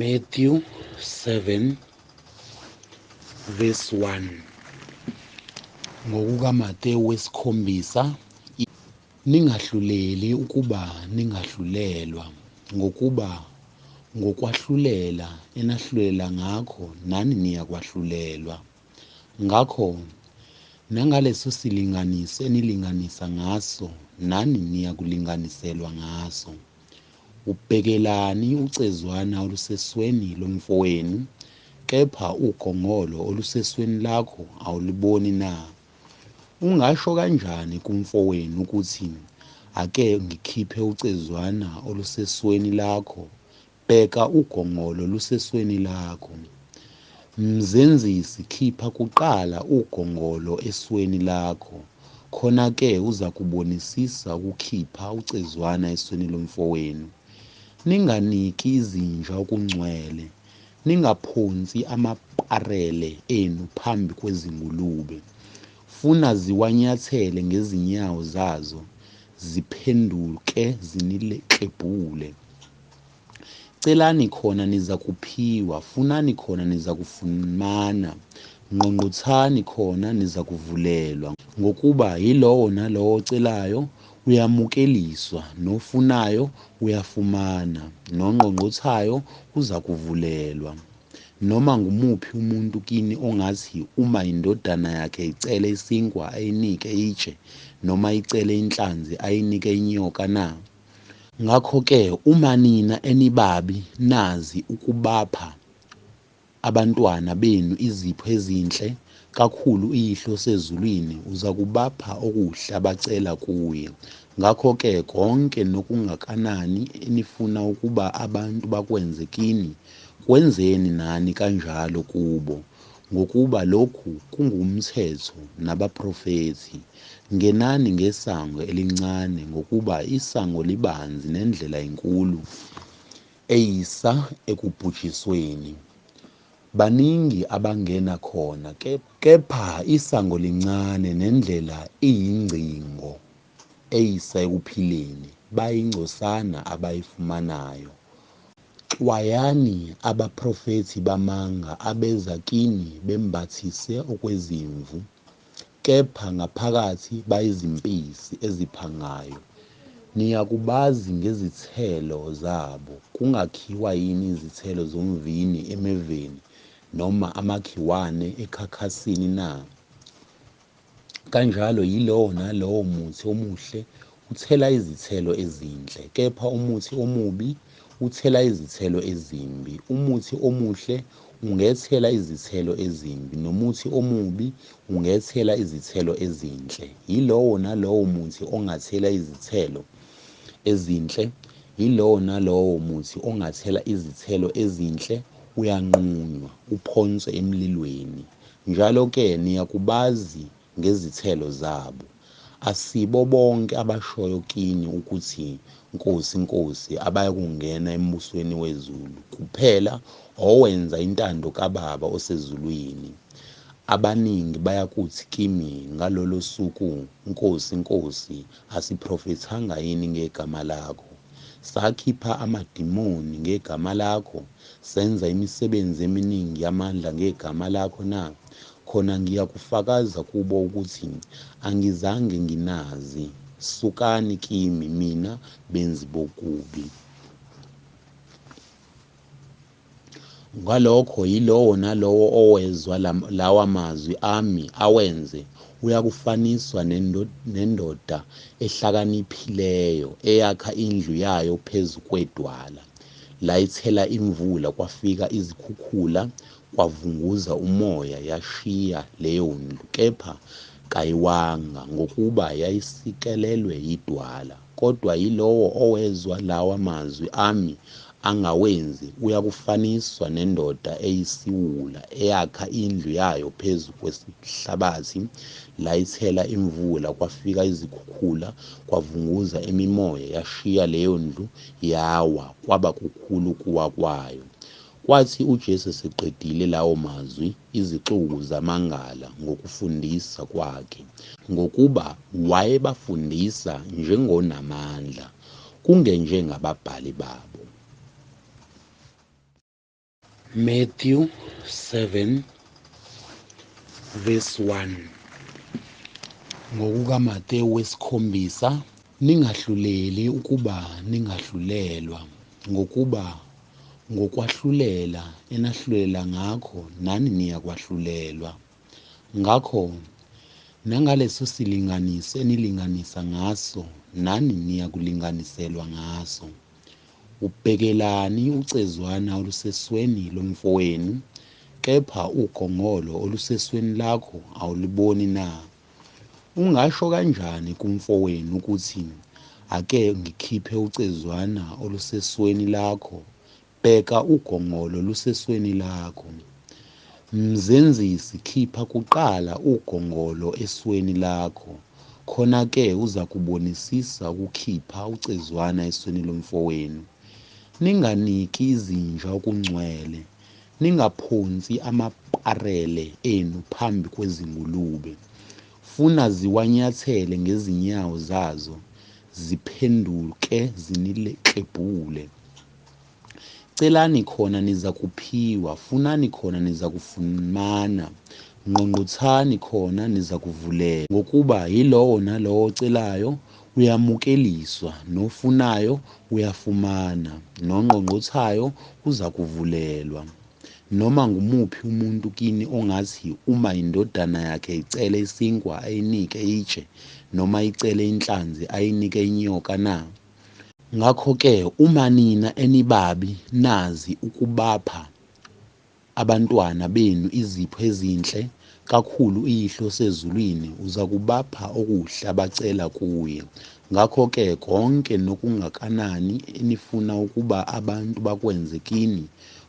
Matthew 7 verse 1 ngokukaMatewu wesikhombisa ningahluleli ukuba ningahlulelwa ngokuba ngokwahlulela enahlulela ngakho nani niyakwahlulelwa ngakho nangaleso silinganiso enilinganisa ngaso nani niyakulinganiselwa ngaso Ubhekelani ucezwana olusesweni lomfowenu, kepha ugongolo olusesweni lakho awuliboni na? Ungasho kanjani kumfowenu ukuthi, Ake ngikhiphe ucezwana olusesweni lakho, bheka ugongolo lusesweni lakho? Mzenzisi khipha kuqala ugongolo esweni lakho khona ke uzakubonisisa ukukhipha ucezwana esweni lomfowenu. Ninganiki izinja okungcwele, ningaphonsi amaparele enu phambi kwezingulube. Funa ziwanyathele ngezinyawo zazo ziphenduke ziniklebhule. Celani khona nizakuphiwa, funani khona nizakufumana, ngqongqothani khona nizakuvulelwa. Ngokuba yilowo nalowo ocelayo uyamukeliswa, nofunayo uyafumana, nongqongqothayo uzakuvulelwa. Noma ngumuphi umuntu kini ongathi uma indodana yakhe icele isinkwa ayinike itshe, noma icele inhlanzi ayinike inyoka na? Ngakho ke uma nina enibabi nazi ukubapha abantwana benu izipho ezinhle, kakhulu uYihlo osezulwini uzakubapha okuhle abacela kuye. Ngakho ke konke nokungakanani enifuna ukuba abantu bakwenze kini, kwenzeni nani kanjalo kubo. Ngokuba lokhu kungumthetho nabaprofethi, Ngenani ngesango elincane, ngokuba isango libanzi nendlela inkulu eyisa ekubhujisweni, baningi abangena khona, kepha isango lincane nendlela iyingcingo eyisa ekuphileni, bayingcosana abayifumanayo. Xwayani abaprofethi bamanga abeza kini bembathise okwezimvu, kepha ngaphakathi bayizimpisi eziphangayo. Niyakubazi ngezithelo zabo. Kungakhiwa yini izithelo zomvini emeveni, noma amakhiwane ekhakhasini na? Kanjalo yilowo nalowo muthi omuhle uthela izithelo ezinhle, kepha umuthi omubi uthela izithelo ezimbi. Umuthi omuhle ungethela izithelo ezimbi, nomuthi omubi ungethela izithelo ezinhle. Yilowo nalowo muthi ongathela izithelo ezinhle, yilowo nalowo muthi ongathela izithelo ezinhle uyanqunywa, uphonswe emlilweni. Njalo ke niyakubazi ngezithelo zabo. Asibo bonke abashoyo kini ukuthi, Nkosi, Nkosi, abayakungena embusweni wezulu, kuphela owenza intando kaBaba osezulwini. Abaningi bayakuthi kimi ngalolo suku, Nkosi, Nkosi, Asiphrofethanga yini ngegama lakho? Sakhipha amadimoni ngegama lakho? Senza imisebenzi eminingi yamandla ngegama lakho na? Khona ngiyakufakaza kubo ukuthi angizange nginazi. Sukani kimi, mina benzi bokubi! Ngalokho yilowo nalowo owezwa lawa mazwi ami awenze, uyakufaniswa nendoda ehlakaniphileyo eyakha indlu yayo phezu kwedwala. Layithela imvula, kwafika izikhukhula, kwavunguza umoya, yashiya leyo ndlu, kepha kayiwanga, ngokuba yayisikelelwe yidwala. Kodwa yilowo owezwa lawa mazwi ami angawenzi uyakufaniswa nendoda eyisiwula eyakha indlu yayo phezu kwesihlabathi, layithela imvula, kwafika izikhukhula, kwavunguza imimoya, yashiya leyo ndlu, yawa, kwaba kukhulu ukuwa kwayo. Kwathi uJesu eseqedile lawo mazwi, izixuku zamangala ngokufundisa kwakhe, ngokuba wayebafundisa njengonamandla, kungenjengababhali babo. Matthew 7 verse 1 NgokukaMatewu wesikhombisa Ningahluleli ukuba ningahlulelwa, ngokuba ngokwahlulela enahlulela ngakho nani niyakwahlulelwa. Ngakho nangalesosilinganiso enilinganisa ngaso nani niyakulinganiselwa ngaso. Ubhekelani ucezwana olusesweni lomfowenu, kepha ugongolo olusesweni lakho awuluboni na? Ungasho kanjani kumfowenu ukuthi ake ngikhiphe ucezwana olusesweni lakho, bheka ugongolo lusesweni lakho. Mzenzisi khipha kuqala ugongolo esweni lakho khona ke uzakubonisisa ukukhipha ucezwana esweni lomfowenu. Ninganiki izinja okungcwele Ningaphonsi amaparele enu phambi kwezingulube. Funa ziwanyathele ngezinyawo zazo, ziphenduke ziniklebhule. Celani khona nizakuphiwa, funani khona nizakufumana, ngqongqothani khona nizakuvulelwa. Ngokuba yilowo nalowo ocelayo, Uyamukeliswa, nofunayo uyafumana, nongqongqothayo uzakuvulelwa. Noma ngumuphi umuntu kini ongathi uma indodana yakhe icele isinkwa ayinike itshe, noma icele inhlanzi ayinike inyoka na? Ngakho-ke uma nina enibabi nazi ukubapha Abantwana benu izipho ezinhle, kakhulu uYihlo osezulwini uzakubapha okuhle abacela kuye. Ngakho-ke konke nokungakanani enifuna ukuba abantu bakwenze kini,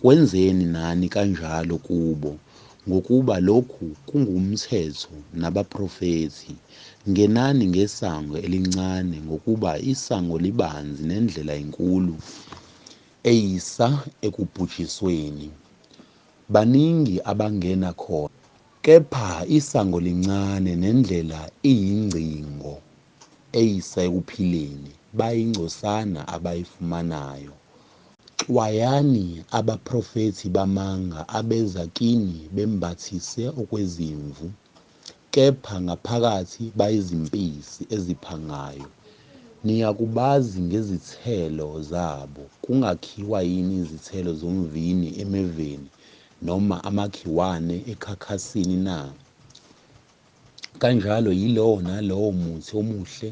kwenzeni nani kanjalo kubo, ngokuba lokhu kungumthetho nabaprofethi. Ngenani ngesango elincane, ngokuba isango libanzi nendlela inkulu eyisa ekubhujisweni. Baningi abangena khona kepha isango lincane nendlela iyingcingo eyisa ekuphileni bayingcosana abayifumanayo. Xwayani abaprofethi bamanga abeza kini bembathise okwezimvu, Kepha ngaphakathi bayizimpisi eziphangayo. Niyakubazi ngezithelo zabo. Kungakhiwa yini izithelo zomvini emeveni, noma amakhiwane ekhakhasini na? Kanjalo yilowo nalowo muthi omuhle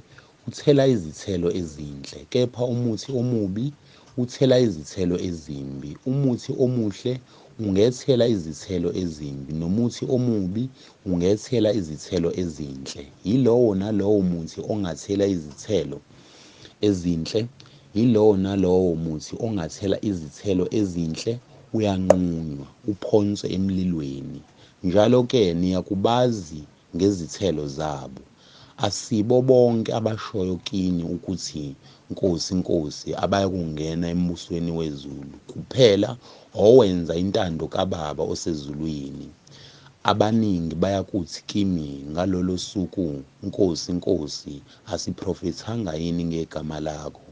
uthela izithelo ezinhle, kepha umuthi omubi uthela izithelo ezimbi. Umuthi omuhle ungethela izithelo ezimbi, nomuthi omubi ungethela izithelo ezinhle. Yilowo nalowo muthi ongathela izithelo ezinhle, yilowo nalowo muthi ongathela izithelo ezinhle uyanqunywa, uphonswe emlilweni. Njalo-ke niyakubazi ngezithelo zabo. Asibo bonke abashoyo kini ukuthi, Nkosi, Nkosi, abayakungena embusweni wezulu, kuphela owenza intando kaBaba osezulwini. Abaningi bayakuthi kimi ngalolo suku, Nkosi, Nkosi, asiprofethanga yini ngegama lakho?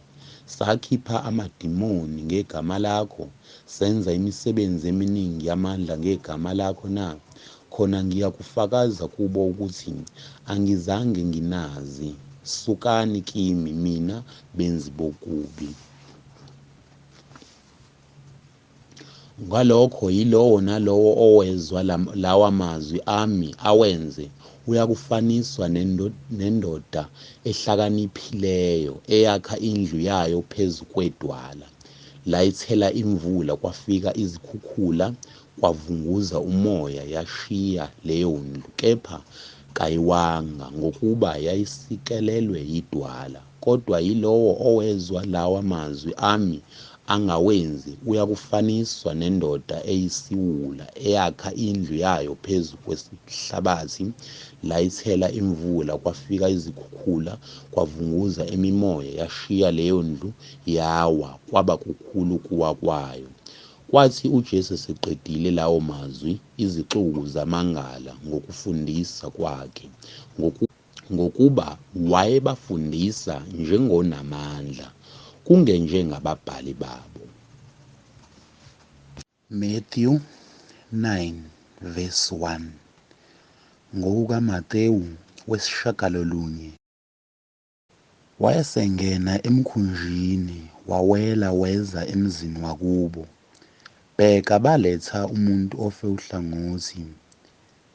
Sakhipha amadimoni ngegama lakho? Senza imisebenzi eminingi yamandla ngegama lakho na? khona ngiyakufakaza kubo ukuthi angizange nginazi, sukani kimi mina benzi bokubi. Ngalokho yilowo nalowo owezwa lawa mazwi ami awenze uyakufaniswa nendoda ehlakaniphileyo eyakha indlu yayo phezu kwedwala layithela imvula kwafika izikhukhula kwavunguza umoya yashiya leyondlu kepha kayiwanga ngokuba yayisikelelwe yidwala kodwa yilowo owezwa lawa mazwi ami angawenzi uyakufaniswa nendoda eyisiwula eyakha indlu yayo phezu kwesihlabathi layithela imvula kwafika izikhukhula kwavunguza imimoya yashiya leyondlu yawa kwaba kukhulu kuwa kwayo Kwathi uJesu eseqedile lawo mazwi, izixuku zamangala ngokufundisa kwakhe, ngoku, ngokuba wayebafundisa njengonamandla, kungenjengababhali babo. Matthew 9 verse 1 NgokukaMatewu wesishagalolunye. Wayesengena emkhunjini, wawela weza emzini wakubo. Bheka, baletha umuntu ofe uhlangothi,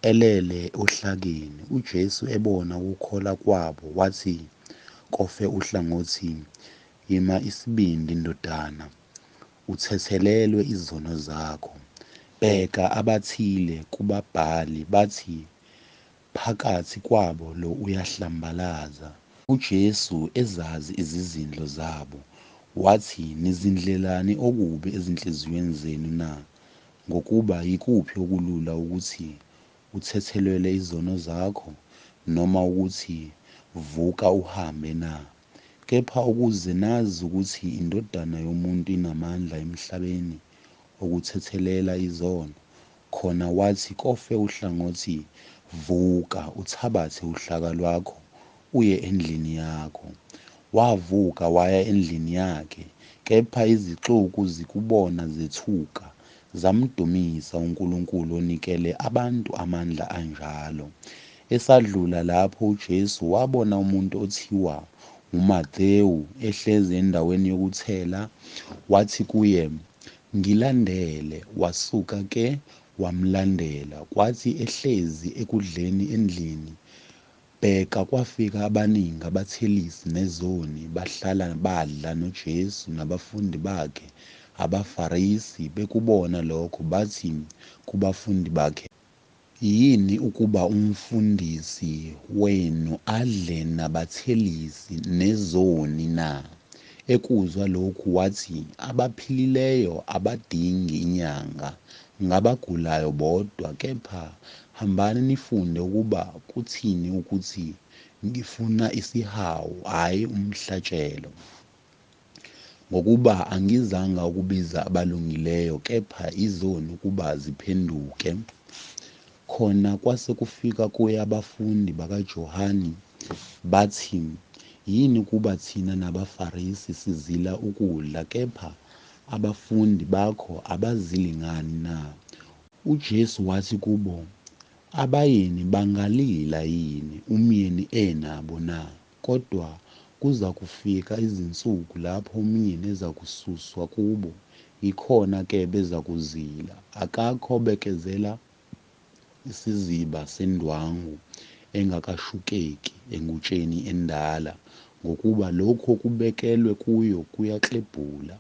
elele ohlakeni. UJesu ebona ukukhola kwabo, wathi kofe uhlangothi, Yima isibindi, ndodana, uthethelelwe izono zakho. Bheka, abathile kubabhali bathi, Phakathi kwabo lo uyahlambalaza. UJesu ezazi izizindlo zabo, wathi, Nizindlelani okubi ezinhliziyweni zenu na? Ngokuba yikuphi okulula ukuthi, Uthethelwele izono zakho, noma ukuthi, Vuka uhambe na? Kepha ukuze nazi ukuthi iNdodana yomuntu inamandla emhlabeni okuthethelela izono, Khona wathi kofe uhlangothi vuka uthabathe uhlaka lwakho uye endlini yakho. Wavuka waya endlini yakhe kepha izixuku zikubona zethuka zamdumisa uNkulunkulu onikele abantu amandla anjalo. Esadlula lapho uJesu wabona umuntu othiwa nguMathewu ehlezi endaweni yokuthela wathi kuye Ngilandele wasuka ke wamlandela kwathi ehlezi ekudleni endlini bheka kwafika abaningi abathelisi nezoni bahlala badla noJesu nabafundi bakhe abaFarisi bekubona lokho bathi kubafundi bakhe, Yini ukuba umfundisi wenu adle nabathelisi nezoni na? Ekuzwa lokhu wathi, Abaphilileyo abadingi inyanga, ngabagulayo bodwa. Kepha hambani nifunde ukuba kuthini ukuthi, Ngifuna isihawu, hhayi umhlatshelo. Ngokuba angizanga ukubiza abalungileyo, kepha izoni ukuba ziphenduke. Khona kwase kufika kuye abafundi bakaJohane, bathi, Yini ukuba thina nabaFarisi sizila ukudla, kepha abafundi bakho abazili ngani na? UJesu wathi kubo, Abayeni bangalila yini, umyeni enabo na? Kodwa kuzakufika izinsuku lapho umyeni ezakususwa kubo, yikhona ke bezakuzila. Akakho obekezela isiziba sendwangu engakashukeki engutsheni endala, ngokuba lokhu okubekelwe kuyo kuyaklebhula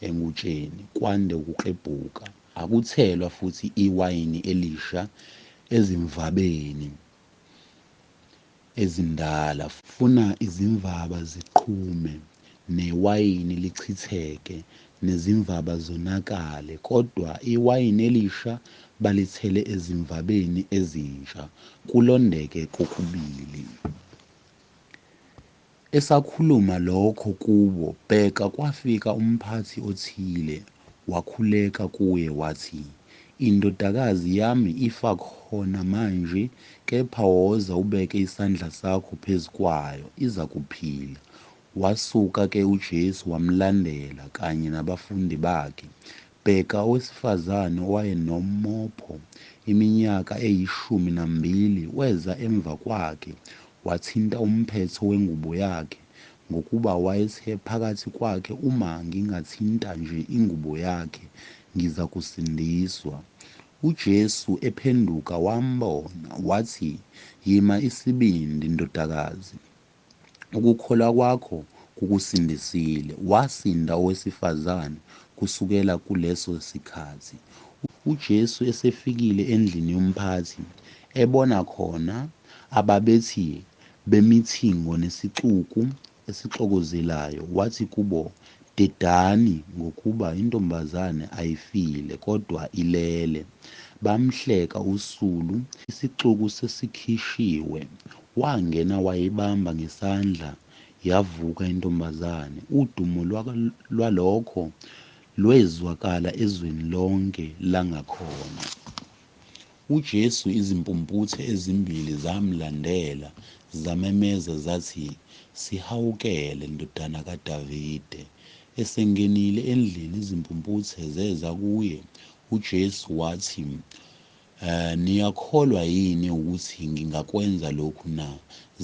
engutsheni, kwande ukuklebhuka. Akuthelwa futhi iwayini elisha ezimvabeni, ezindala. Funa izimvaba ziqhume, newayini lichitheke, nezimvaba zonakale, kodwa iwayini elisha balithele ezimvabeni ezintsha, kulondeke kokubili. Esakhuluma lokho kubo, bheka, kwafika umphathi othile, wakhuleka kuye, wathi, Indodakazi yami ifa khona manje, kepha woza ubeke isandla sakho phezu kwayo, izakuphila. Wasuka-ke uJesu wamlandela, kanye nabafundi bakhe. Bheka owesifazane owayenomopho iminyaka eyishumi nambili weza emva kwakhe, wathinta umphetho wengubo yakhe, ngokuba wayethe phakathi kwakhe, Uma ngingathinta nje ingubo yakhe, ngizakusindiswa. UJesu ephenduka wambona, wathi, Yima isibindi, ndodakazi. Ukukholwa kwakho kukusindisile. Wasinda owesifazane kusukela kuleso sikhathi. UJesu esefikile endlini yomphathi, ebona khona ababethi bemithingo nesixuku esixokozelayo, wathi kubo, Dedani, ngokuba intombazane ayifile, kodwa ilele. Bamhleka usulu, isixuku sesikhishiwe. Wangena wayibamba ngesandla yavuka intombazane. Udumo lwalokho lwezwakala ezweni lonke langakhona. UJesu izimpumputhe ezimbili zamlandela zamemeza zathi, Sihawukele, Ndodana kaDavide! Esengenile endlini izimpumputhe zeza kuye, uJesu wathi, Niyakholwa yini ukuthi ngingakwenza lokhu na?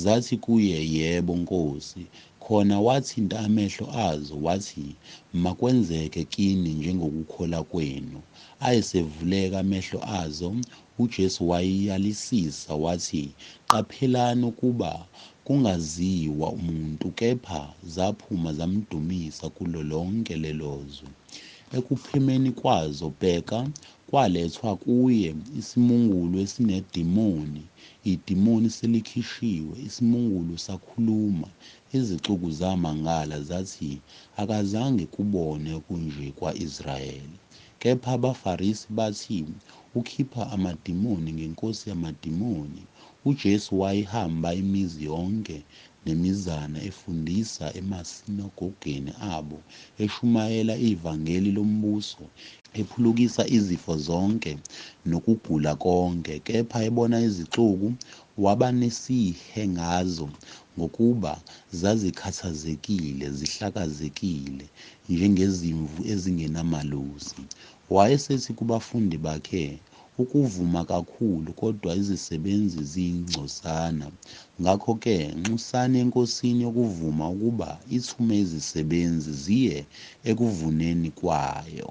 Zathi kuye, Yebo, Nkosi. Khona wathinta amehlo azo, wathi, Makwenzeke kini njengokukhola kwenu. Ayesevuleka amehlo azo, uJesu wayiyalisisa, wathi, Qaphelani ukuba kungaziwa umuntu, kepha zaphuma zamdumisa kulo lonke lelozwe. Ekuphimeni kwazo, bheka, Kwalethwa kuye isimungulu esinedimoni, idimoni selikhishiwe, isimungulu sakhuluma, izixuku zamangala, zathi, Akazange kubone kunje kwa-Israyeli. Kepha abaFarisi bathi, Ukhipha amadimoni ngenkosi yamadimoni. UJesu wayehamba imizi yonke, nemizana efundisa emasinagogeni abo, eshumayela ivangeli lombuso, ephulukisa izifo zonke nokugula konke, kepha ebona izixuku, waba nesihe ngazo, ngokuba zazikhathazekile, zihlakazekile, njengezimvu ezingenamalusi. Wayesethi kubafundi bakhe, Ukuvuma kakhulu kodwa izisebenzi ziyingcosana. Ngakho ke, nxusani eNkosini yokuvuma ukuba ithume izisebenzi ziye ekuvuneni kwayo.